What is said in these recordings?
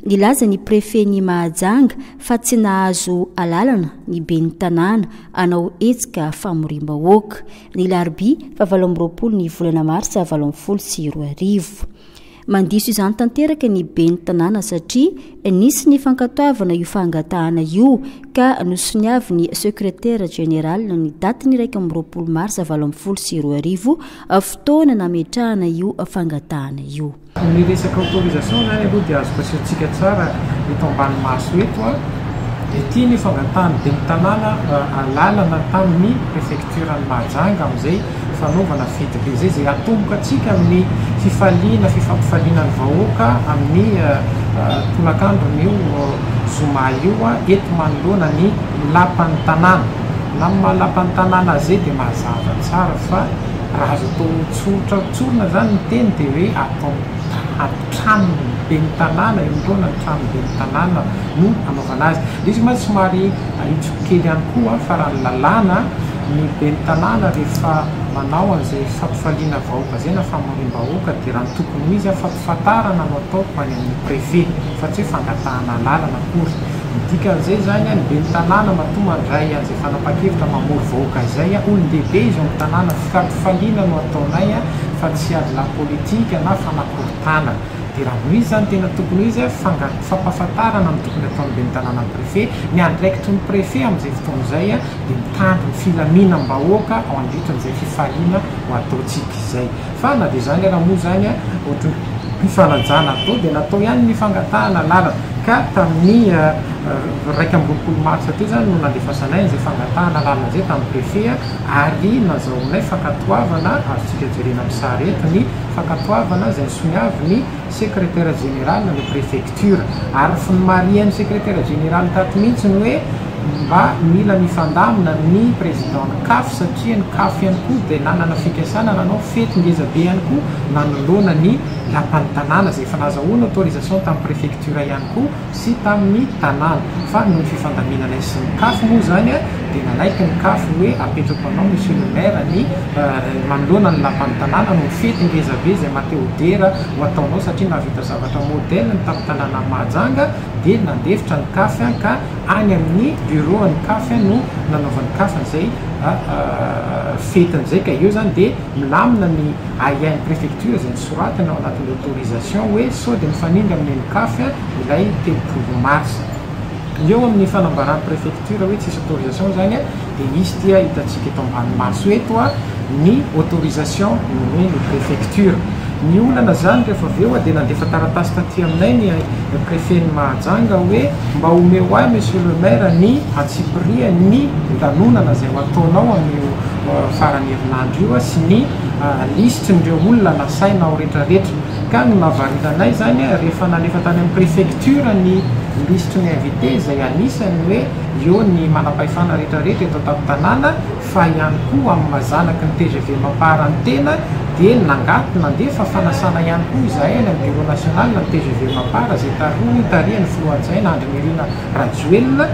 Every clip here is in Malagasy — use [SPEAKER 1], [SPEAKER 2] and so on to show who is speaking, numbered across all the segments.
[SPEAKER 1] Nilaza ny prefen'i Mahajanga fa tsy nahazo alalana ny ben'ny tanàna hanao hetsika famoriam-bahoaka. ny larobia fahavalo amby roapolo ny volana marsa valo ambin'ny folo sy roa arivo. Mandiso izany tanteraka ny ben'ny tanàna satria nisy ny fankatoavana io fangatahana io ka nosoniavin'ny sekretera jeneraly ny datin'ny iraika amby roapolo marsa valo ambin'ny folo sy roa arivo fotoana nametrahana io fangatahana io. Ny resaka
[SPEAKER 2] autorisation zany aloha dia azoko asehontsika tsara eto ambany maso eto, dia ity ny fangatahan'ny ben'ny tanàna alalana tamin'ny préfecture an'i Mahajanga amin'izay fanaovana fety be izay, izay atomboka antsika amin'ny fifaliana, fifampifaliana ny vahoaka amin'ny tolakandron'io zoma io eto manoloana ny lapan'ny tanàna. Na amin'ny maha lapan'ny tanàna azy dia mazava tsara fa raha azo atao tsotra. Tsorina izany ny teny dia hoe atao tranony ben'ny tanàna, eo am-poana ny trano ben'ny tanàna no anaovana azy. Dia izy mantsy somary ahitsiko kely ihany koa fa raha ny lalàna, ny ben'ny tanàna rehefa manao an'izay fampifaliana vahoaka izay na famoriam-bahoaka dia raha ny tokony ho izy, Fantarana no ataoko any amin'ny préfet fa tsy hoe fangatahana alalana akory. Ny dikan'izay izany, ny ben'ny tanàna matoa mandray an'izay fanapahan-kevitra mamory vahoaka izay. Olon-dehibe izy ao amin'ny tanàna, vokam-pifaliana no ataonay fa tsy ady la politique na fanakorontanana. Dia raha noho izy izany tena tokony ho izy, fanga- fampahafantarana no tokony ataon'ny ben'ny tanàna ny préfet. Ny andraikitry ny préfet amin'izay fotoana izay dia mitandro ny filaminam-bahoaka ao andritran'izay fifaliana ho ataontsika izay. Fa na dia zany ara moa zany a ohatry ny fifanajana atao dia natao ihany ny fangatahana lalana ka tamin'ny iraika amby roapolo marsa teo zany no nandefasanay an'izay fangatahana lalana izay tamin'ny préfet a ary nazahoanay fankatoavana azontsika jerena amin'ny sary eto ny fankatoavana izay nisoniavin'ny secrétaire général ny préfecture Culture. Ary ny fnmarihan'ny Sekretera Jeneraly tato mihitsy ny hoe mba mila mifandamina ny Prezidan'ny Caf satria ny Caf ihany koa dia nanana fikasana nanao fety ngeza be ihany koa nanoloana ny Lapan'ny Tanàna izay efa nazahoany autorisation tamin'ny Prefecture ihany koa sy tamin'ny Tanàna fa noho ny fifandaminanay sy ny Caf moa izany dia nanaiky ny Caf ny hoe apetrako anao Monsieur le Maire ny manoloana ny Lapan'ny Tanàna noho ny fety ngeza be izay mateodera ho ataonao satria nahavita zavatra modèle ny tapitandrana Mahajanga dia nandefitra ny caf ka any amin'ny bureau an'ny caf no nanaovan'ny caf an'izay fetiny izay ka eo zany dia milamina ny ahiahin'ny préfecture izay nosoratany ao anatin'ny autorisation hoe sao dia mifanindry amin'ny an'ny caf ilay telopolo mars eo amin'ny fanambaran'ny préfecture Tsy raha hoe tsisy autorisation zany a, de misy ty a hitantsika eto ambany maso eto a, ny autorisation nomen'ny prefecture. Ny olana zany rehefa avy eo a de nandefa taratasy taty aminay ny prefet-n'i Mahajanga hoe mba omeo ahy monsieur le maire ny antsipirihan'ny lanonana zay ho ataonao amin'io faran'ny herinandro io a sy ny lisitrin'ireo olona nasaina ao retraretra. Ka ny mahavariana anay izany rehefa nalefa tany amin'ny préfecture ny liste ny invités izay anisany hoe eo ny manampahefana rehetra rehetra eto an-tampon tanàna fa ihany koa amin'ny maha zanaky ny tgv mampaharany tena dia nangato nandefa fanasana ihany koa izahay any amin'ny bureau national ny tgv mampahara izay tarohy tarihan'ny filoha adjoint Andry Nirina Rajoelina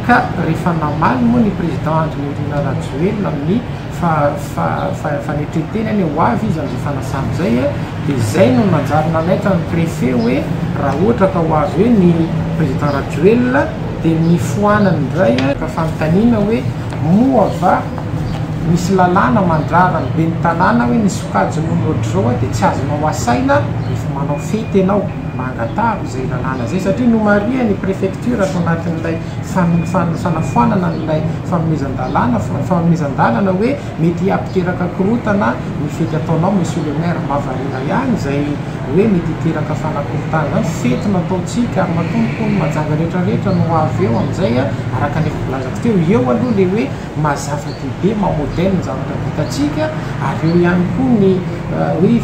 [SPEAKER 2] ka rehefa namaly moa ny président Andry Nirina Rajoelina amin'ny Fa fa fa efa netrenteny anie ho avy izy amzay fanasana zay a, de zay no nanjary nanaitra ny prefet hoe ra ohatra ka ho avy eo ny president rajoelina de mifoanany ndray a, ka fanontaniana hoe moa va misy lalàna mandrara ny ben'ny tanàna hoe ny sokajin'ony otrzao a de tsy azonao asaina refa manao fety enao, mba angatahako zay lalàna zay satria nomarihany prefecture ato anatin'ilay fanafoanana an'ilay fanomezan-dalàna, fanomezan-dalana hoe mety hapiteraka korotana ny fety ataonao Monsieur le Maire, mba variana ihany izay hoe mety hiteraka fanakorotana izany, fety nataontsika ary matoa hono majanga rehetra rehetra no avy eo amin'izay araka ny efa volazako teo, eo aloha ilay hoe maha zava-dehibe, maha modèle ny zavatra vitantsika ary eo ihany koa ny hoe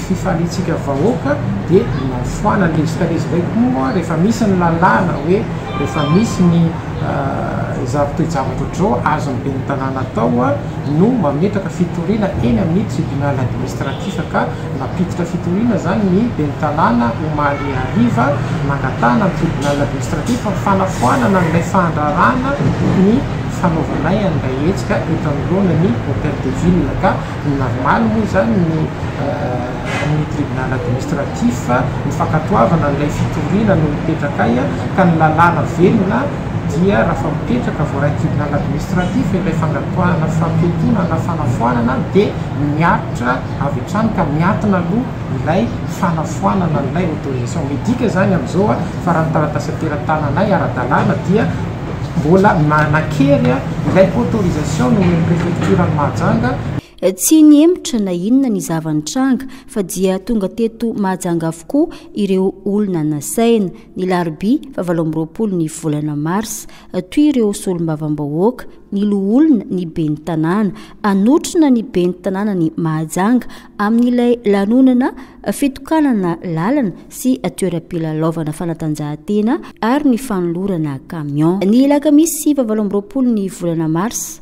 [SPEAKER 2] fifaliantsika vahoaka dia ny mahafoanana, ilay vita lesy indray koa moa rehefa misy ny lalàna hoe. Efa misy ny izao toe-javatra ohatr'izao azon'ny ben'ny tanàna atao no mametraka fitoriana eny amin'ny tribunal administratif ka nampiditra fitoriana izany ny ben'ny tanàna omaly hariva nangatahana ny tribunal administratif ny fanafoanana an'ilay fandraràna ny fanaovanay an'ilay hetsika eto anoloana ny hotel de ville ka ny normal moa izany ny ny tribunal administratif, ny fankatoavana ilay fitoriana no mipetraka ay ka ny lalàna velona dia raha fa mipetraka voarain'ny tribunal administratif ilay fankatoahana fampiatoana na fanafoanana dia miaritra avy hatrany ka miatona aloha ilay fanafoanana an'ilay autorisation medique zany amin'izao fa raha ny taratasy atera-tananay ara-dalàna dia mbola nanan-kery ilay autorisation nomen'ny prefecture an'i Mahajanga Tsy
[SPEAKER 1] nihemotra na inona ny zava-nitranga fa dia tonga teto Mahajanga avokoa ireo olona nasaina, ny larobia fa valo amby roapolo ny volana marsa. Toy ireo solombavambahoaka, ny loholona, ny ben'ny tanàna. Hanotrona ny ben'ny tanànan'i Mahajanga amin'ilay lanonana fitokanana lalana sy toeram-pilalaovana fanatanjahantena ary ny fanolorana camion. Ny alakamisy faha valo amby roapolo ny volana marsa,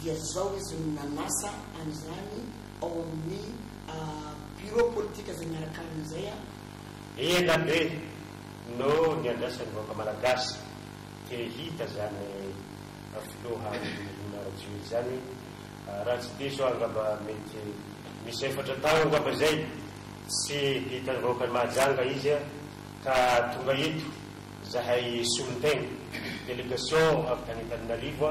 [SPEAKER 3] dia izao izy no nanasa an'izany ao amin'ny Bureau politika izay miaraka aminy izay. Ela
[SPEAKER 4] be no niandrasan'ny vahoaka Malagasy te hita izany Filoha Nirina Rajoelina izany. Raha tsy diso aho angamba mety misy efatra taona angamba izay tsy hitan'ny vahoakan'i Mahajanga izy ka tonga eto izahay solontegna, délégation avy tany Antananarivo.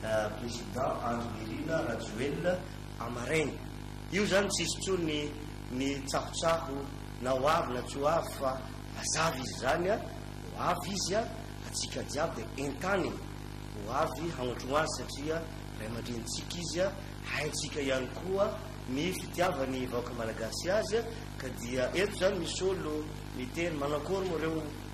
[SPEAKER 5] Président Andry Nirina Rajoelina amaraina. Io zany tsisy tsony ny tsahotsaho na ho avy na tsy ho avy fa mazava izy zany a, ho avy izy a, atsika jiaby dia entaniny ho avy hagnatron azy satria ray aman-dreny tsika izy a, haintsika ihany koa ny fitiavany vahoaka Malagasy azy a, ka dia eto zany misolo mitery manakôry moa reo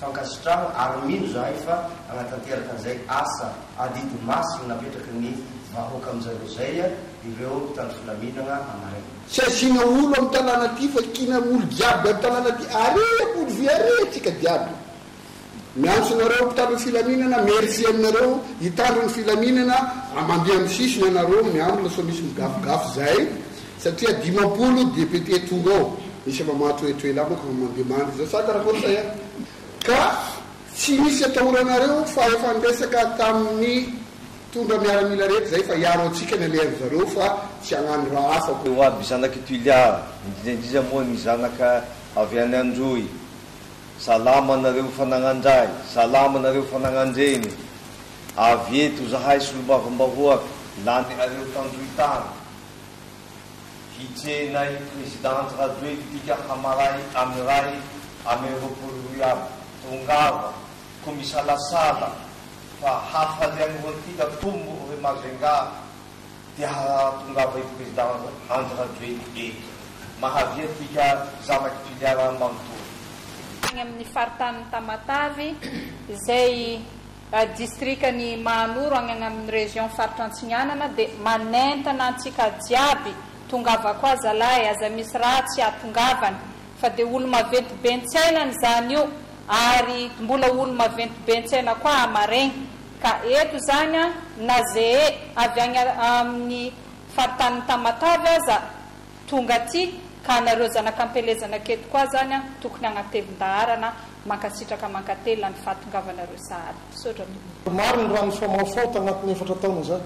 [SPEAKER 5] Fankasitrahana ary mino izahay fa hanatanteraka an'izay asa adidy masina napetraky ny vahoaka amin'izareo izay ireo mpitandro filaminagna amaraina. Tsy asiana olo
[SPEAKER 6] am tanàna ty fa kiana olo jiaby am tanàna ty are ampody vy are atsika jiaby miantso nareo mpitandro ny filaminana merci aminareo hitandro ny filaminana a mandeha am sisiny anareo miambina sao misy migafigafy zay Satria dimampolo députés tonga ao, misy efa mahatohetohely amiko fa mandeha mandry zao sa karakory zay an? ka tsy misy atahoranareo fa efa niresaka tamin'ny mpitondra miaramila rehetra zay fa hiaro antsika ny alehan'ny zareo fa tsy hagnano raha hafa ko. Ho aby zanak' i Tuilear,
[SPEAKER 7] indrindra indrindra moa ny zanaka avy any Androy, salama nareo fanagnandrahy, salama nareo fanagnandreny, avy eto zahay solombavambahoaka, lany areo tandroy tany, Hijena'i President Radoelidika hamaray am iray amby roapolo roy aby. Tongava ko misalasala fa hafaly any Roatika tombo re Majunga dia hahatongava'i President Andry Rajoely eto. Mahavia tika zanak'i Toliara manontolo. tany amin'ny
[SPEAKER 8] faritanin'i Tamatave izay Distrikan'i Mahanoro agny agnamin'ny région Faritra Antsinanana dia manentana antsika jiaby, tongava koa zalahy aza misy raha tsy ahatongavany fa dia olo maventy be ntsaina ny zany io ary mbola olo maventy be ntsaina koa hamaregny ka eto zany an na zee avy agny amin'ny Faritanin'i Tamatave aza Tonga aty ka anareo zanaka ampelezana aketo koa zany an, tokony agnatelin-daharana an, mankasitraka mankatelina ny fahatongavanareo sahady. Misaotra tompoko. Marigny raha
[SPEAKER 9] nifamaofao tagnatin'ny efatra taona zay.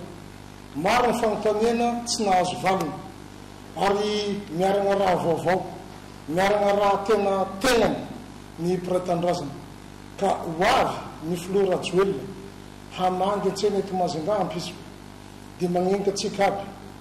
[SPEAKER 9] Maro ny fanontaniana tsy nahazo valiny. Ary miaragna raha vaovao. Miaragna raha tena tegnany ny mpiray tanindrazana. Ka ho avy ny filoha Rajoelina hamangy antsena eto Majunga ampitso. Dia magnenga antsika aby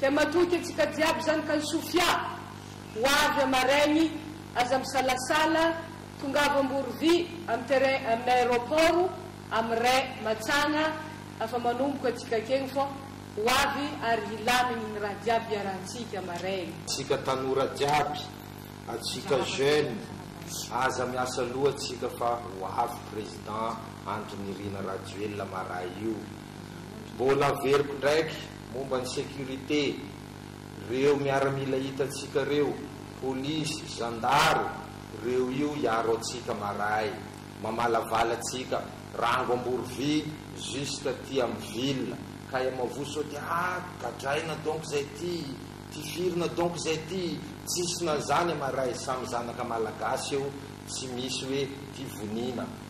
[SPEAKER 10] Dia matoky antsika jiaby zany kany Sofia, ho avy am maraigny aza misalasala tongava Amborovi am terrain am aéroport am ray matsagna afa manomboka antsika akegny fô ho avy ary hilamigny ny raha jiaby iarahantsika maraigny. Tsika tanora
[SPEAKER 7] jiaby, atsika jeune aza miasa loha tsika fa ho avy président Andry Nirina Rajoelina maray io. Mbôla averiko ndraiky Momba ny sécurité, reo miaramila hitantsika reo, polisy, zandaro, reo io hiaro antsika maray, mamalavala antsika, rango ambory vy jusque aty am ville, kay am avoa sao de ah gadraina donc zay ty, tifirina donc zay ty, tsisy na zany maray, samy zanaka malagasy eo, tsy misy hoe tivoniana,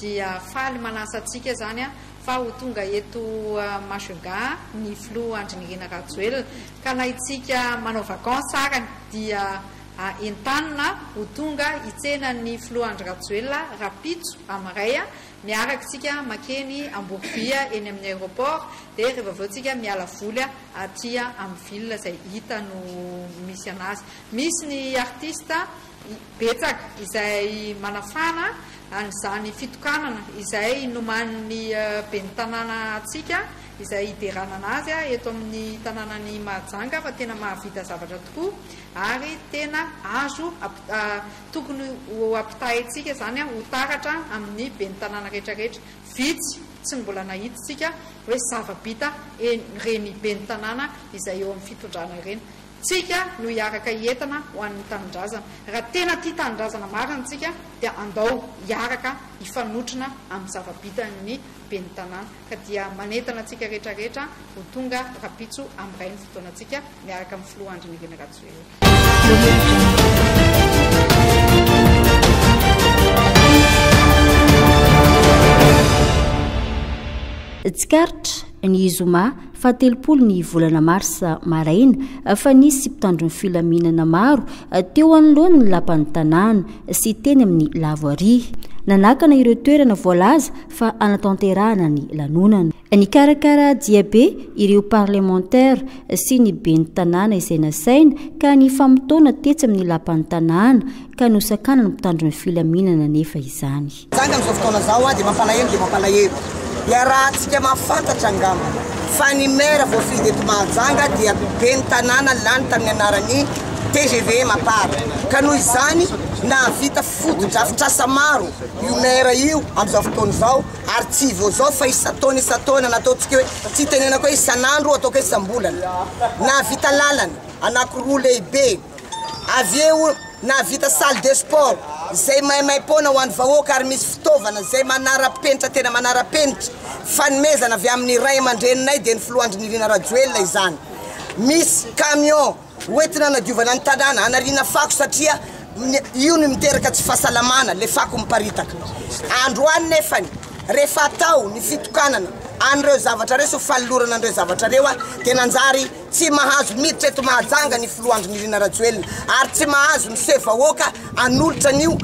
[SPEAKER 11] dia faly manasa antsika izany fa ho tonga eto Majunga ny filoha Andry Nirina Rajoelina ka na itsika manao vacances ary dia entanina ho tonga hitsena ny filoha Andry Rajoelina rapitso amin'iray miaraka isika makeny Amborovia eny amin'ny aeroport dia rehefa avy eo tsika miala voly aty amin'ny ville izay hita no misy anazy misy ny artiste Betsaka izay manafana an'izany fitokanana izay nomanin'ny Ben'ny Tanàna antsika izay hideranana azy eto amin'ny tanànan'i Mahajanga fa tena mahavita zavatra tokoa ary tena azo tokony ho ampitahaintsika izany ho taratra amin'ny Ben'ny Tanàna rehetrarehetra. Vitsy tsy ny mbola nahitintsika hoe zava-bita ireny Ben'ny Tanàna izay eo amin'ny fitondrana ireny. Tsika no hiaraka hietana ho an'ny tanindrazana. Raha tena tia tanindrazana marina tsika dia andao hiaraka hifanotrona amin'ny zava-bitan'ny ben'ny tanàna ka dia manentana antsika rehetra rehetra ho tonga rapitso amin'ny ray ny fotoanantsika miaraka amin'ny filoha Andry Nirina Rajoelina.
[SPEAKER 1] Tsikaritra, ny zoma. fahatelopolo ny volana marsa maraina fa nisy mpitandro ny filaminana maro teo anoloan'ny lapan'ny tanàna sy teny amin'ny lavoaria nanakana ireo toerana voalaza fa anatanterahana ny lanonana nikarakara diabe ireo parlemantera sy ny ben'ny tanàna izay nasaina ka ny famotoana tetsy amin'ny lapan'ny tanàna ka nosakanany mpitandro ny filaminana nefa izany Tranga amin'izao fotoana izao
[SPEAKER 3] dia mampalahelo dia mampalahelo. Iarahantsika mahafantatra angamba fa ny maire voafidy eto Mahajanga dia ben'ny tanàna lany tamin'ny anaran'ny tgv Mapar. Ka noho izany, nahavita fotodrafitrasa maro io maire io amin'izao fotoana izao ary tsy vao izao fa isan-taona isan-taona na ataontsika hoe tsy itenenako hoe isan'andro, ataoko hoe isam-bolana. Nahavita lalana anankiroa lehibe. Avy eo nahavita salle de sport izay maimaim-poana ho an'ny vahoaka ary misy fitaovana izay manara-penitra tena manara-penitra. Fanomezana avy amin'ny ray aman-dreninay dia ny filoha Andrinirina Rajoelina izany.
[SPEAKER 12] Misy camion hoentina hanadiovana ny tanàna, hanariana fako satria io no miteraka tsy fahasalamana, ilay fako miparitaka. Androany nefany rehefa atao ny fitokanana an'ireo zavatra ireo sy ny fanolorana an'ireo zavatra ireo dia nanjary Tsy mahazo miditra eto Mahajanga ny filoha Andry Nirina Rajoelina ary tsy mahazo miseho vahoaka hanolotra an'io.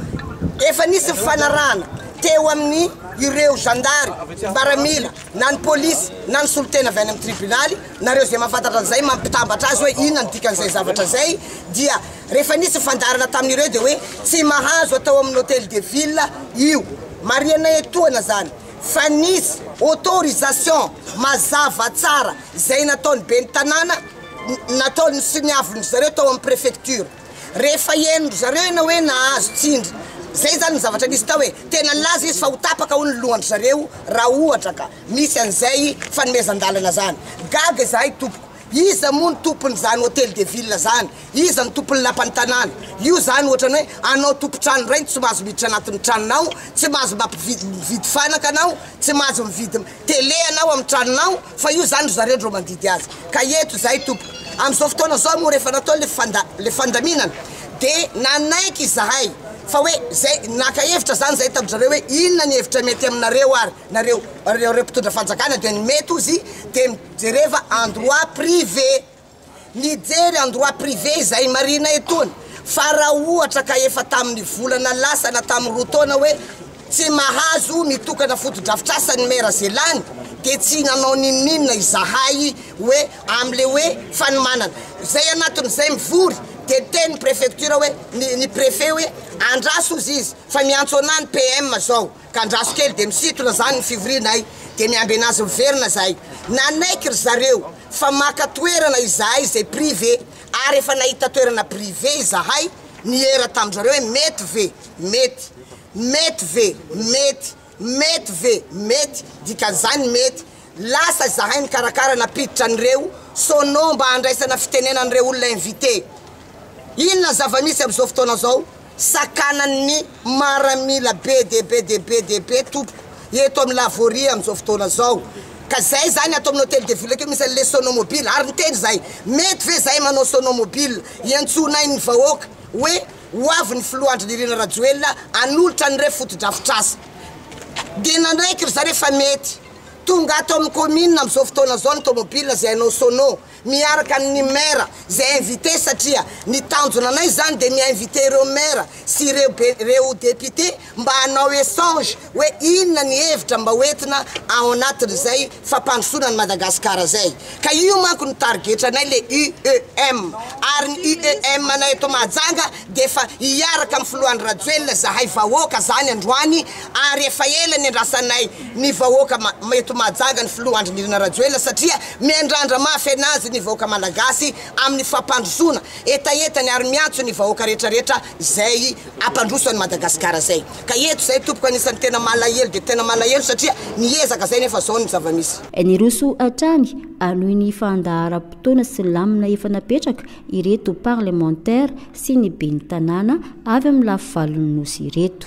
[SPEAKER 12] Efa nisy fifanarahana teo amin'ny ireo zandary, mbaramila, na ny polisy, na ny solontena avy any amin'ny tribunaly. Nareo izay mahafantatra an'izay, mampitambatra azy hoe inona ny dikan'izay zavatra izay. Dia rehefa nisy ny fandaharana tamin'ireo dia hoe tsy mahazo atao amin'ny Hotel de Ville io. Marihanay etoana izany fa nisy autorisation mazava tsara. Izay nataon'ny ben'ny tanàna, nataony sy ny havon'dry zareo tao amin'ny préfecture. Rehefa henondry zareo ianao hoe nahazo tsindry, izay izany ny zavatra nisy tao e, tena nilaza izy fa ho tapaka hono ny lohandry zareo raha ohatra ka misy an'izay fanomezan-dalana izany. Gaga izahay tompoko, iza moa no tompon'izany hôtel de ville izany, iza no tompon'ny lapan'ny tanàna, io izany ohatran'ny hoe anao tompon-trano indray no tsy mahazo miditra anatin'ny tranonao, tsy mahazo mampividy mividy fanaka anao, tsy mahazo mividy tele anao amin'ny tranonao fa io zany ry zareo ndro mandidy azy ka eto izahay tompoko amin'izao fotoana zao moa rehefa natao le fanda le fandaminana de nanaiky izahay fa hoe zay naka hevitra zany zay tamin-dry zareo hoe inona ny hevitra mety aminareo ary nareo reo reo mpitondra fanjakana de ny mety ozy de jereva en droit privé Mijery en droit privé izay marina etony fa raha ohatra ka efa tamin'ny volana lasa na tamin'ny roa taona hoe tsy mahazo mitokana fotodrafitrasa ny maire Zelany dia tsy nanao n'inon'inona izahay hoe amin'ilay hoe fanomanana izay anatin'izay mivory dia niteny ny prefecture hoe ny ny prefet hoe andraso ozy izy fa miantso anah ny PM zao Ka andraso kely dia misintona zany ny fivorianay dia miamby anazy miverina zahay. Nanaiky ry zareo fa maka toerana izahay izay privé ary efa nahita toerana privé izahay niera tamin'zareo hoe mety ve? Mety. Mety ve? Mety. Mety ve? Mety. Dikan'izany mety. Lasa izahay nikarakara nampiditra an'ireo sono mba handraisana fitenenan'ireo olona invité. Inona ny zava-misy amin'izao fotoana izao? Sakanan'ny maramila be dia be dia be dia be tompoko eto amin'ny Lavoria amin'izao fotoana izao ka izay izany ato amin'ny Hôtel de Ville akeo misy an'ilay Sonomobile ary niteny izahay mety ve izahay manao Sonomobile hiantsoanay ny vahoaka hoe ho avy ny Filoha Andry Nirina Rajoelina hanolotra an'ireo fotodrafitrasa dia nanaiky ry zareo fa mety tonga ato amin'ny Commune amin'izao fotoana izao ny Tomobile izay hanao Sono miaraka amin'ny maire izay invité satria ny tanjona anay izany dia mi-invité ireo maire sy ireo be ireo député mba hanao échange hoe inona ny hevitra mba ho entina ao anatin'izay fampandrosoana an'i Madagasikara izay ka io manko no tarigetranay le UEM ary ny UEM anay eto Mahajanga dia efa hiaraka amin'ny filoha Andry Rajoelina izahay vahoaka izany androany ary efa ela niandrasanay ny vahoaka eto Mahajanga ny filoha Andry Nirina Rajoelina satria miandrandra mafy anazy ny vahoaka malagasy amin'ny fampandrosoana hetahetany ary miantso ny vahoaka retraretra izay ampandroso an'i Madagasikara izay ka eto izay tompoko anisany tena malahelo dia tena malahelo satria niezaka izay nefa izao ny zavamisy Niroso
[SPEAKER 1] hatrany hanohy ny fandaharam-potoana sy lamina efa napetraka ireto parlemantera sy ny ben'ny tanàna avy amin'ny lafivalon'ny Nosy ireto.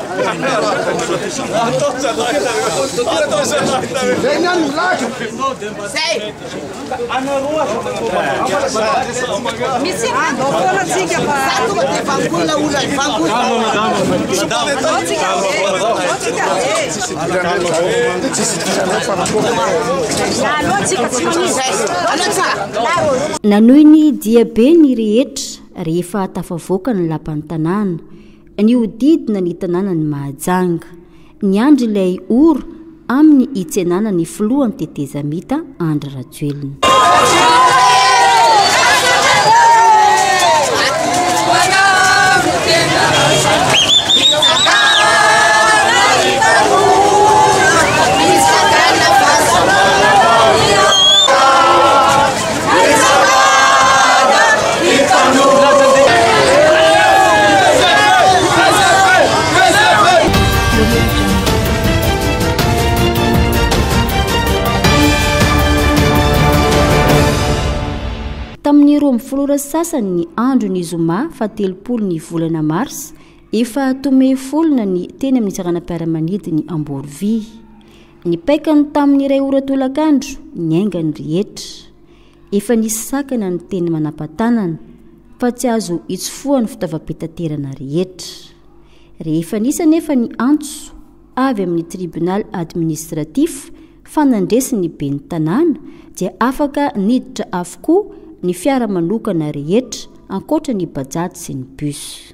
[SPEAKER 1] Nanohy ny diabe ny rehetra rehefa tafavoaka ny lapan'ny tanàna. Nihodidina ny tanànan'i Mahajanga, niandry ilay ora amin'ny hitsenana ny filohan'ny tetezamita Andry Rajoelina. Tamin'ny roa amby folo ora sasany ny andro ny zoma fa telopolo ny volana mars efa tome folona ny teny amin'ny seranam-piaramanidiny Amborovy. Ny paikany tamin'ny iray ora tolakandro, niainga ny rehetra. Efa nisy sakana ny teny manampatanana fa tsy azo itsofohan'ny fitaovam-pitaterana rehetra. Rehefa nisy anefa ny antso avy amin'ny tribunal administratif fa nandresy ny ben'ny tanàna dia afaka niditra avokoa ny fiara manokana rehetra ankoatra ny bajaj sy ny bus.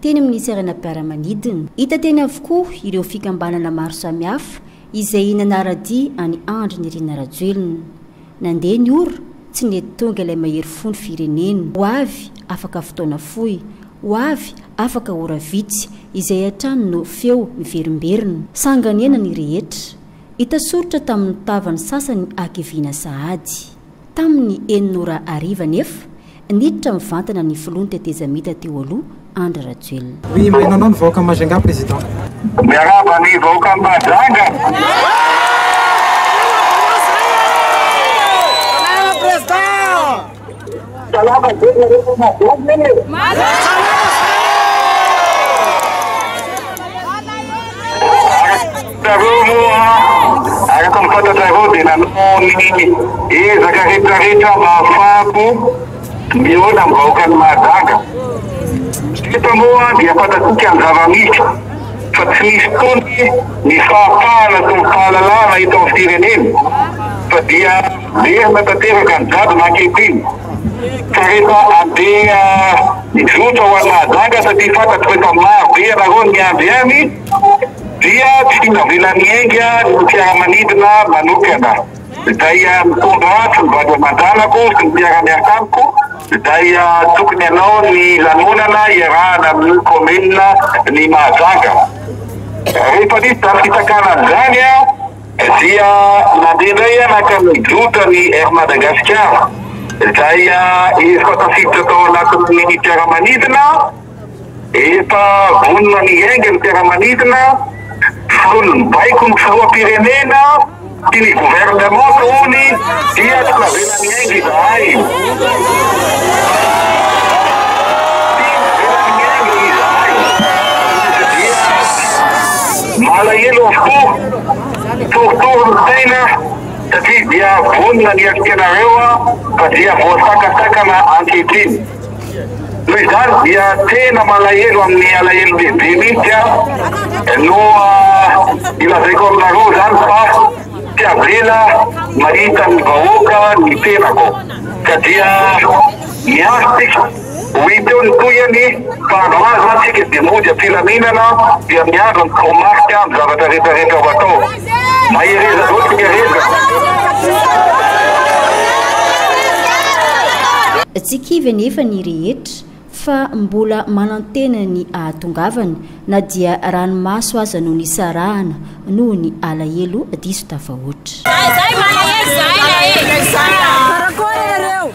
[SPEAKER 1] teny amin'ny seranam-piaramanidina. Hita teny avokoa ireo fikambanana maro samihafa izay nanara-dia an'i Andry Nirina Rajoelina. Nandeha ny ora, tsy nety tonga ilay mahery fo ny firenena. Ho avy, afaka fotoana fohy. Ho avy, afaka ora vitsy, izay hatrany no feo miverimberina. Sanganena ny rehetra. Hita soritra tamin'ny tava ny sasany hakiviana sahady. Tamin'ny enina ora hariva anefa, Niditra mivantana ny filoha ny tetezamita teo aloha, Andry Rajoelina. Oui maino anao ny vahoaka
[SPEAKER 2] Majunga président. Miarahaba
[SPEAKER 13] ny vahoaka Majunga. Salama be nareo Majunga e. Ianareo moa araka ny fantatrareo dia nanao ny ezaka retraretra mba hahafahako mihaona ny vahoakan'i Mahajanga. Eto moa dia fantatsika ny zava-misy fa tsy misy tony ny fahafahana sy ny fahalalahana eto amin'ny firenena fa dia merina tanteraka ny jadona ankehitriny ka rehefa andeha hizotra ho any Mahajanga satria fantatro fa efa maro be ianareo ny miandry any dia tsy navela niainga ny fiaramanidina manokana izay nitondra ahy sy ny vady aman-janako sy ny mpiara-miasa amiko izay tokony hanao ny lanonana iarahana amin'ny kaominina ny Mahajanga. Rehefa nisy izany fisakanana izany dia nandeha indray aho nankany Jota ny Air Madagasikara izay efa tafiditra tao anatin'ny fiaramanidina. Efa vonona ny hiainga ny fiaramanidina, vono ny baiko ny filoham-pirenena sy ny governemanta hono dia tsy navela niainga izahay. Malahelo avokoa, torotoro ny saina satria dia vonona ny heritrerareo fa dia voasakasakana ankehitriny. Noho izany dia tena malahelo amin'ny alahelo lehibe mihitsy aho no ilazaiko aminareo izany fa tsy avela mahita ny vahoaka ny tenako ka dia miandry tsika ho hita eo ny tohiny fa andro ho andro mantsika dia mody am-pilaminana dia miandry ny toromarika amin'ny zavatra rehetra rehetra ho atao. Mahereza zao tsika rehetra.
[SPEAKER 1] Tsy kivy anefa ny rehetra fa mbola manantena ny hahatongavany na dia ranomaso aza no nisarahana noho ny alahelo diso tafahoatra. Karakôry nareo?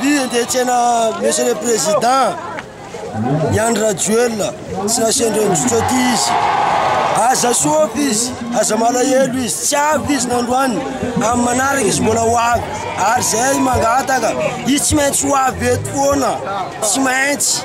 [SPEAKER 14] Vy andeha tsena monsieur le président i Andry Rajoelina tsy nasendra indrotra aty izy aza soapa izy aza malahelo izy tsy avy izy nandroany amin'ny manaraka izy mbola ho avy ary zay mangataka izy tsy maintsy ho avy eto foana tsy maintsy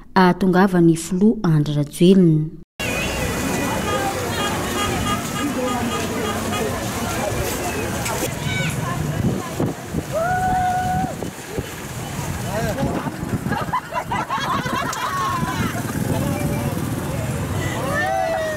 [SPEAKER 1] hahatongava ny filoha Andry Rajoelina.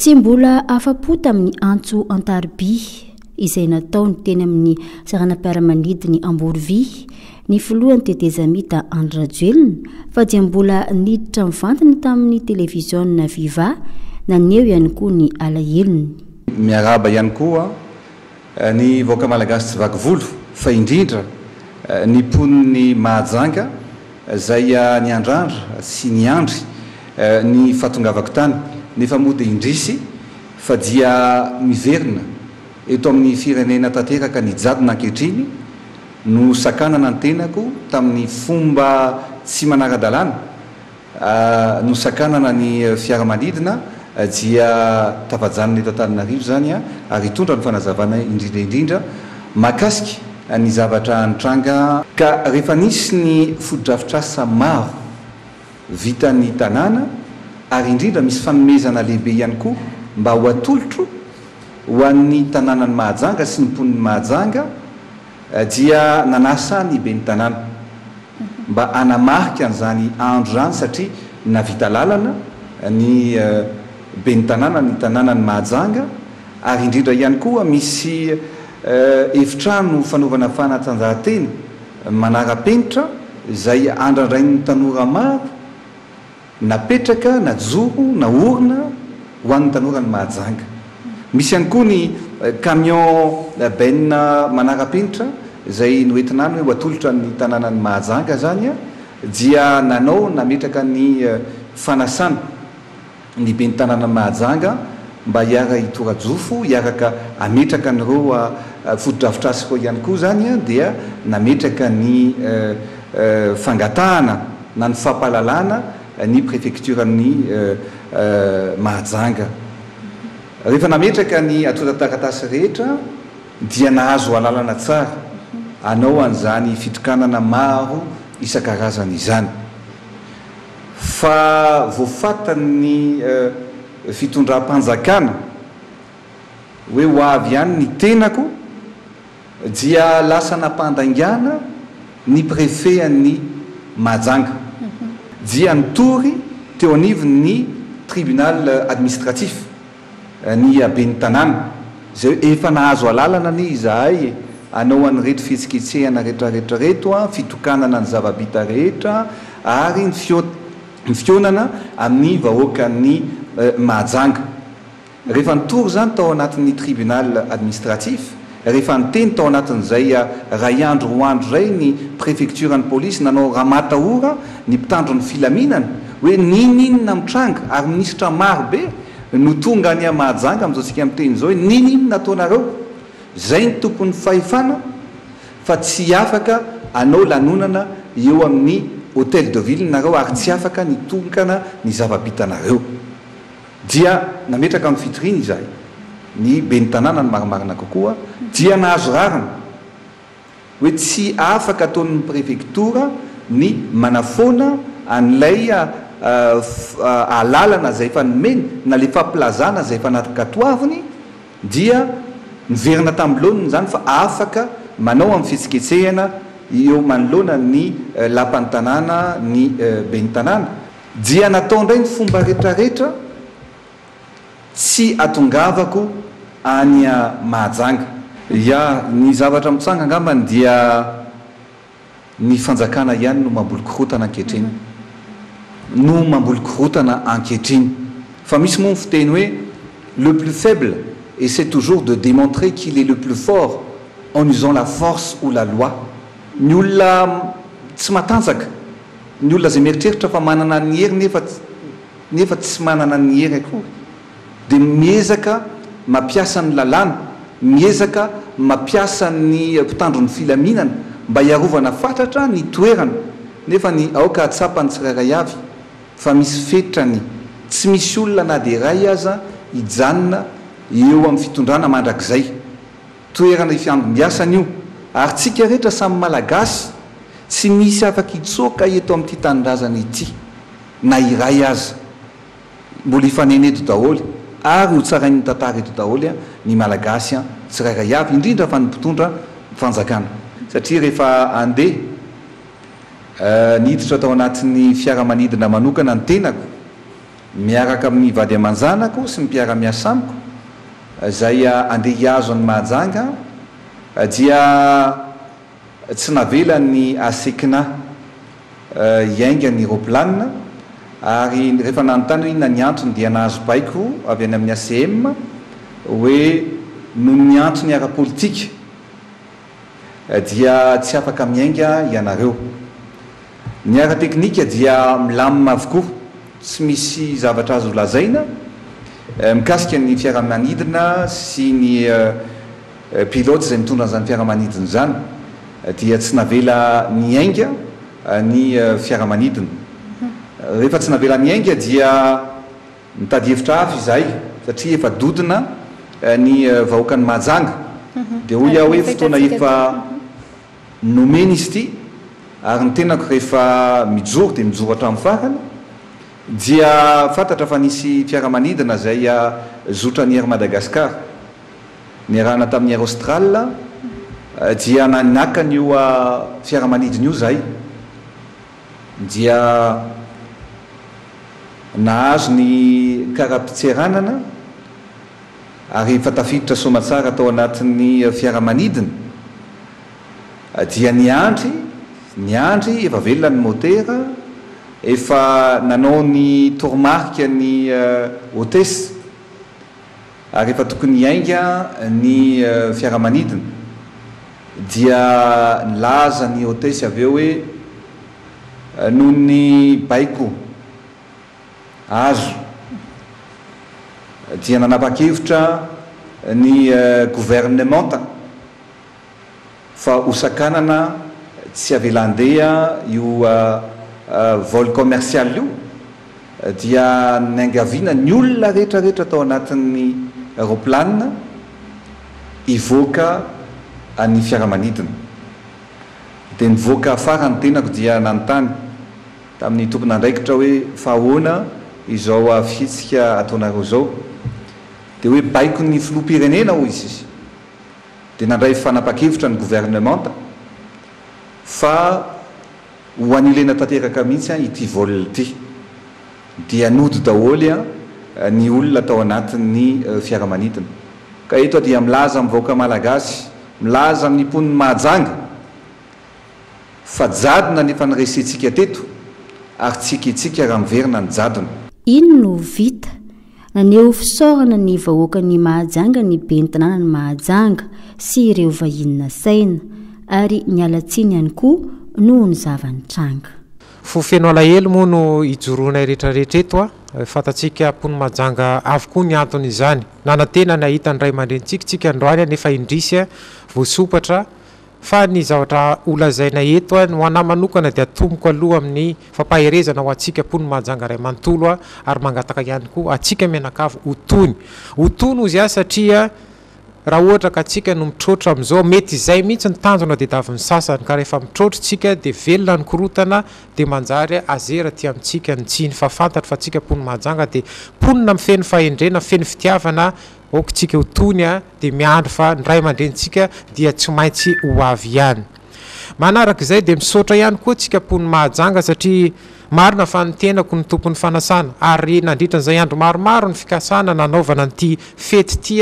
[SPEAKER 1] Tsy mbola afa-po tamin'ny antso an-tariby izay nataony teny amin'ny saranam-piaramanidiny Amborovy ny filohan'ny tetezamita Andry Rajoelina fa dia mbola niditra mivantana tamin'ny televiziona Viva naneho ihany koa ny alahelony. Miarahaba
[SPEAKER 15] ihany koa Ny vahoaka malagasy tsy vaky volo fa indrindra ny mponin'i Mahajanga izay niandrandra sy niandry ny fahatongavako tany nefa moa dia indrisy fa dia miverina eto amin'ny firenena tanteraka ny jadona ankehitriny no sakanana ny tenako tamin'ny fomba tsy manara-dalàna Nosakanana ny fiaramanidina dia tafajanona eto Antananarivo izany ary hitondra ny fanazavana indrindra indrindra mahakasika ny zavatra nitranga. Ka rehefa nisy ny fotodrafitrasa maro vitan'ny tanàna ary indrindra misy fanomezana lehibe ihany koa mba ho atolotro ho an'ny tanànan'i Mahajanga sy ny mponin'i Mahajanga, Dia nanasa ny ben'ny tanàna mba hanamarika an'izany andro izany satria nahavita lalana ny ben'ny tanàna ny tanànan'i Mahajanga ary indrindra ihany koa misy efitrano fanaovana fanatanjahantena manara-penitra izay andrandrain'ny tanora maro Napetraka, najoro, naorina ho an'ny tanora ny Mahajanga. Misy ihany koa ny camion benina manara-penitra izay noentina any hoe ho atolotra ny tanànan'i Mahajanga izany dia nanao nametraka ny fanasana ny ben'ny tanànan'i Mahajanga. mba hiara-hitora-jofo, hiaraka hametraka an'ireo fotodrafitrasa ireo ihany koa izany dia nametraka ny fangatahana na ny fampahalalana ny prefektioran'i Mahajanga. Rehefa nametraka ny antontan-taratasy rehetra dia nahazo alalana tsara hanao an'izany fitokanana maro isan-karazany izany. Fa voafatan'ny. fitondram-panjakana hoe ho avy ihany ny tenako dia lasa nampandaingana ny prefean'i Mahajanga dia nitory teo anivon'ny tribunal administratif ny ben'ny tanàna izay hoe efa nahazo alalana anie izahay e! hanao an'ireto fihetsiketsehana retraretra reto, fitokanana ny zava-bita rehetra ary ny fiot. ny fihaonana amin'ny vahoakan'i Mahajanga. Rehefa nitory izany tao anatin'ny tribunal administratif, rehefa niteny tao anatin'izay iray andro roa andro izay ny prefektioran'ny polisy nanao ramatahora ny mpitandro ny filaminana hoe ninoninona mitranga ary minisitra maro be no tonga any Mahajanga amin'izao tsika miteny izao hoe ninoninona ataonareo? izay ny tompon'ny fahefana fa tsy afaka hanao lanonana eo amin'ny Hotel de Ville nareo ary tsy afaka ny tokana ny zava-bitanareo. Dia nametraka amin'ny fitoriany izahay, ny Ben'ny Tanàna ny marimarina kokoa, dia nahazo rariny hoe tsy afaka ataon'ny Prefektora ny manafoana an'ilay alalana izay efa nomeny na ilay fampilazana izay efa nakatoaviny, dia niverina tamin'ny laoniny izany fa afaka manao amin'ny fihetsiketsehana eo manoloana ny lapan'ny tanàna ny ben'ny tanàna. Dia natao indray ny fomba retraretra tsy atongavako any Mahajanga. Ya, ny zavatra mitsanga angambany dia Ny fanjakana ihany no mamboly korotana ankehitriny. No mamboly korotana ankehitriny. Fa misy moa ny fiteny hoe le plus faible essaie toujours de demontrer qu'il est le plus fort en usant la force ou la loi. Ny olona tsy matanjaka, ny olona izay mieritreritra fa manana ny hery nefa nefa tsy manana ny hery akory. dia miezaka mampiasa ny lalàna, miezaka mampiasa ny mpitandro ny filaminana mba hiarovana fatratra ny toerana nefa ny aoka hahatsapany tsirairay avy fa misy fetrany, tsy misy olona na dia iray aza hijanona eo amin'ny fitondrana mandrakizay. Toerana ifiangom-biasany io ary tsika rehetra samy Malagasy tsy misy afaka hitsoaka eto amin'ity tanindrazana ity na iray aza. Mbola hifanena eto daholo ary ho tsarain'ny tantara eto daholo ny Malagasy tsirairay avy, indrindra fa ny mpitondra fanjakana. Satria rehefa andeha, niditra tao anatin'ny fiaramanidina manokana ny tenako, miaraka amin'ny vady aman-janako sy ny mpiara-miasa amiko, izay andeha hihazo an'i Mahajanga, dia Tsy navelan'ny ACCNA hiainga ny raoplanina ary rehefa nanontany hoe inona ny antony dia nahazo baiko avy any amin'ny ACM hoe noho ny antony ara-politika dia tsy afaka miainga ianareo. Ny ara-teknika dia milamina avokoa, tsy misy zavatra azo lazaina mikasika ny fiaramanidina sy ny. Pilote izay mitondra an'izany fiaramanidina izany dia tsy navela niainga ny fiaramanidina. Rehefa tsy navela niainga dia nitady hevitra hafa izahay satria efa dodona ny vahoakan'i Mahajanga. Dia hoy aho hoe fotoana efa nomena izy ity ary ny tenako rehefa mijoro dia mijoro hatramin'ny farany. Dia fantatra fa nisy fiaramanidina izay zotran'i Air Madagascar. Niarahana tamin'i Air Austral dia naka an'io fiaramanidina io izahay dia nahazo ny kara-pitseranana ary rehefa tafiditra soamatsara tao anatin'ny fiaramanidina dia niandry, niandry, efa velona ny motera, efa nanao ny toromarika ny hotesse. Ary efa tokony hiainga ny fiaramanidina. Dia nilaza ny hotesse avy eo hoe, noho ny baiko azo dia nanapa-kevitra ny governemanta. fa hosakanana tsy avela handeha io vol commercial io dia niangaviana ny olona rehetra rehetra tao anatin'ny roplanina hivoaka ny fiaramanidina dia nivoaka afara ny tenako dia nanontany tamin'ny tompon'andraikitra hoe fa ahoana izao fihetsika ataonareo izao dia hoe baiko ny filoham-pirenena hoy izy dia nandray fanapan-kevitra ny governemanta fa ho anilena tanteraka mihitsy ity vol ity, dia nody daholo ny olona tao anatin'ny fiaramanidina. Ka eto aho dia milaza amin'ny vahoaka Malagasy, milaza amin'ny mponin'i Mahajanga fa jadona ny efa niresentsika teto ary tsy ekentsika raha miverina ny jadona. Iny no
[SPEAKER 1] vita. Naneho fisaorana ny vahoakan'i Mahajanga ny ben'ny tanànan'i Mahajanga sy ireo vahiny nasaina, ary niala tsiny ihany koa noho ny zava-nitranga. Fo feno
[SPEAKER 2] alahelo moa no ijoroanay rehetra rehetra eto a! Fantatsika mponin'i Mahajanga avokoa ny anton'izany. Nanantena ny hahita ny ray aman-drenintsika isika androany anefa indrisy voasompatra Fa ny zavatra ho lazaina eto, ny ho anà manokana dia atomoko aloha amin'ny fampaherezana ho antsika mponin'i Mahajanga iray manontolo ary mangataka ihany koa antsika mianakavy ho tony. Ho tony hozy aho satria raha ohatra ka tsika no mitroatra amin'izao, mety izay mihitsy ny tanjona didavin'ny sasany ka rehefa mitroatra tsika dia velona ny korotana dia manjary azera aty amintsika ny tsiny fa fantatro fa tsika mponin'i Mahajanga dia mponina mifeno fahendrena, feno fitiavana, Aoka tsika ho toy ny ahy dia miandry fa ny ray aman-drenintsika dia tsy maintsy ho avy ihany. Manaraka izay dia misaotra ihany koa tsika pony Mahajanga satria marina fa ny tenako no tompon'ny fanasana ary nandritra an'izay andro maromaro ny fikasana nanaovana an'ity fety ity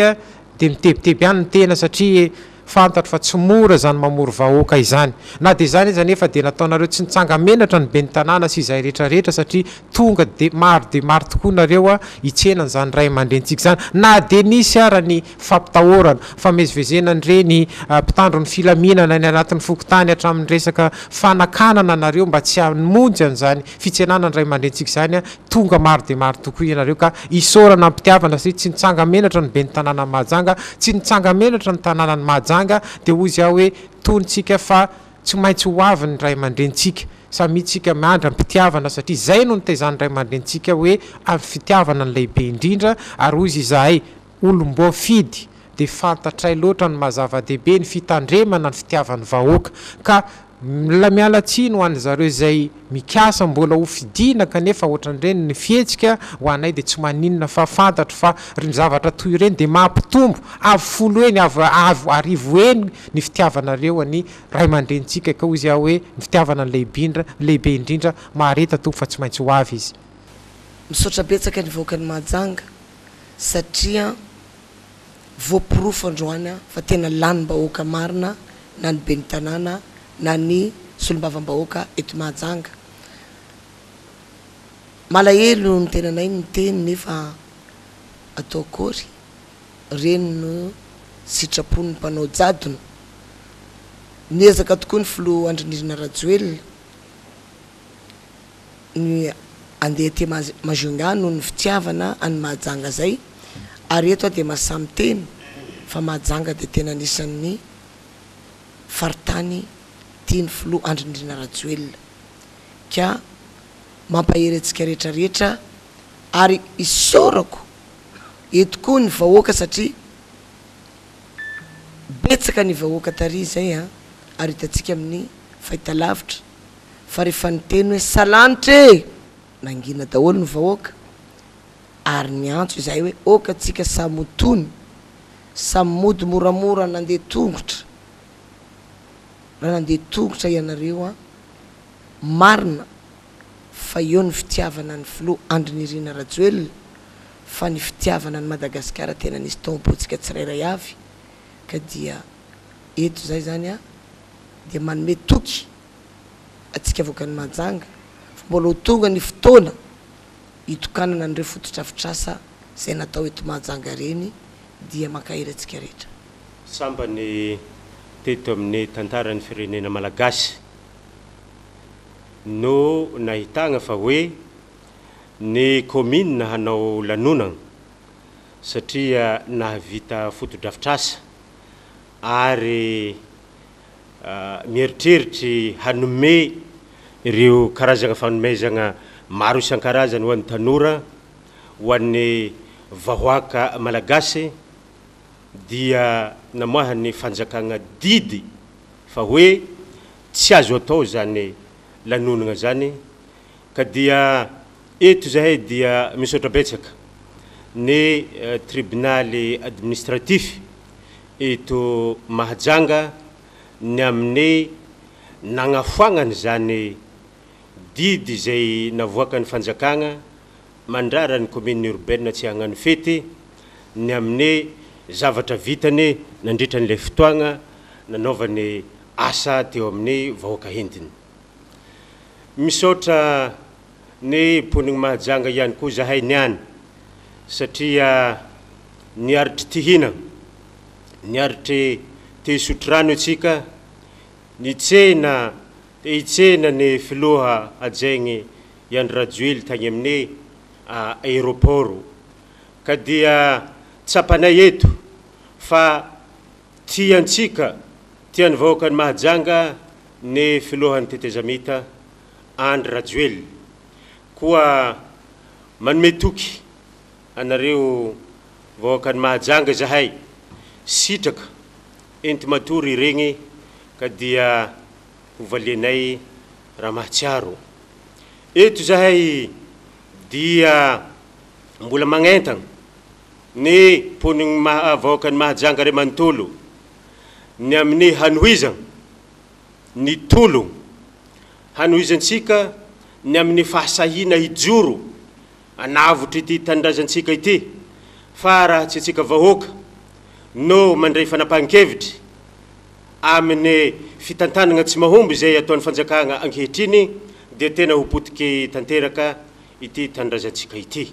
[SPEAKER 2] dia mitebiteby ihany ny tena satria Fantatro fa tsy mora izany mamory vahoaka izany. Na dia izany aza anefa dia nataonareo tsy nitsanga-menatra ny ben'ny tanàna sy izay rehetra rehetra satria tonga dia maro dia maro tokoa nareo hitsena an'izany ray aman-drenintsika izany. Na dia nisy ara ny fampitahorana, famezivezena an'ireny mpitandro ny filaminana any anatin'ny fokontany hatramin'ny resaka fanakanana anareo mba tsy hamonjy an'izany fitsenanan ray aman-drentsika izany a! Tonga maro dia maro tokoa ianareo ka isaorana am-pitiavana satria tsy nitsanga menatra ny ben'ny tanànan'i Mahajanga, tsy nitsanga menatra ny tanànan'i Mahajanga dia hoy izy aho hoe tonontsika fa tsy maintsy ho avy ny ray aman-drentsika, samia tsika miandry am-pitiavana satria izay no nitezan'ny ray aman-drentsika hoe avy fitiavana ny lehibe indrindra ary hoy izy izahay olom-boafidy dia fantatray loatra ny maha zava-dehibe ny fitandremana ny fitiavan'ny vahoaka ka mila miala tsiny ho an'ny zareo izay mikasa mbola ho fidiana kanefa ohatran'ireny ny fihetsika ho anay dia tsy maninona fa fantatro fa reny zavatra toy ireny dia mampitombo avo folo heny avo arivo heny ny fitiavanareo an'i Raimandrenintsika ka hoy izy aho hoe ny fitiavana no lehibe indrindra mahareta Tompo fa tsy maintsy ho avy izy. Misaotra
[SPEAKER 16] betsaka ny vahoakan'i Mahajanga satria voaporofo androany fa tena lanim-bahoaka marina na ny ben'ny tanàna na ny solombavambahoaka eto Mahajanga. Malahelo ny tenanay miteny nefa atao akory, ireny no sitrapon'ny mpanao jadona. Niezaka tokoa ny filoha Andry Nirina Rajoelina ny andeha aty Majunga noho ny fitiavana an'i Mahajanga zay ary eto aho dia mahasahy miteny fa Mahajanga dia tena anisan'ny faritany tian'ny filoha Andry Nirina Rajoelina ka mampahery antsika rehetra rehetra ary isaorako eto koa ny vahoaka satria betsaka ny vahoaka tary izay ary hitantsika amin'ny fahitalavitra. fa rehefa niteny hoe salanitra e! nangina daholo ny vahoaka ary niantso izahay hoe oka tsika samy ho tony, samy mody moramora nandeha tongotra raha nandeha tongotra ianareo an! marina fa eo ny fitiavana ny filoha Andry Nirina Rajoelina fa ny fitiavana an'i Madagasikara tena nisy tao am-pontsika tsirairay avy ka dia eto izay izany dia manome toky antsika avoakan'i Mahajanga fa mbola ho tonga ny fotoana hitokanana an'ireo fotodrafitrasa izay natao eto Mahajanga ireny dia mankahery antsika rehetra. Sambany
[SPEAKER 4] teto amin'ny tantaran'ny firenena malagasy no nahitagna fa hoe ny kaominina hanao lanonagna satria nahavita fotodrafitrasa ary mieritreritry hanome ireo karazana fanomezana maro isan-karazany ho an'ny tanora, ho an'ny vahoaka malagasy dia namoahan'ny fanjakana didy fa hoe tsy azo atao izany lanonana izany. Ka dia eto izahay dia misaotra betsaka ny tribonaly administratif eto Mahajanga ny amin'ny nagnafoagnany izany didy izay navoakan'ny fanjakagna mandrara ny commune urbaine tsy hagnano fety ny amin'ny zavatra vitany nandritra an'ilay fotoagna nanaovany asa teo amin'ny vahoaka hentiny. Misaotra ny mponiny Mahajanga ihany koa zahay niany satria niaritry tihinana, niaritry te hisotro rano itsika, nitsena te hitsena ny filoha hajaigny i Andry Rajoely tagny amin'ny aéroport ka dia tsapanay eto fa Tiantsika, tian'ny vahoakan'i Mahajanga ny filohan'ny tetezamita Andry Rajoelina. Koa manome toky anareo vahoakan'i Mahajanga izahay. Sitraka enti-matory iregny ka dia hovalianay raha mahatsiaro. Eto izahay dia mbola magnentagna. ny mponin'ny maha vahoakan'i Mahajanga ray manontolo ny amin'ny hanohizana ny tolona hanohizantsika ny amin'ny fahasahiana hijoro anavotr'ity tanindrazantsika ity fa raha tsy antsika vahoaka no mandray fanapahan-kevitra amin'ny fitantanana tsy mahomby izay ataon'ny fanjakana ankehitriny dia tena ho potiky tanteraka ity tanindrazantsika ity.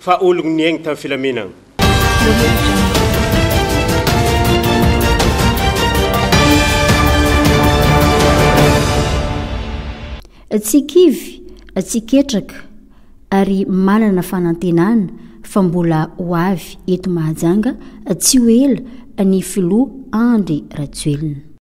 [SPEAKER 4] Fa ologno niaigny tam filaminagna.
[SPEAKER 1] Tsy kivy, tsy ketraka ary manana fanantenana fa mbola ho avy eto Mahajanga tsy ho ela ny filoha Andry Rajoelina.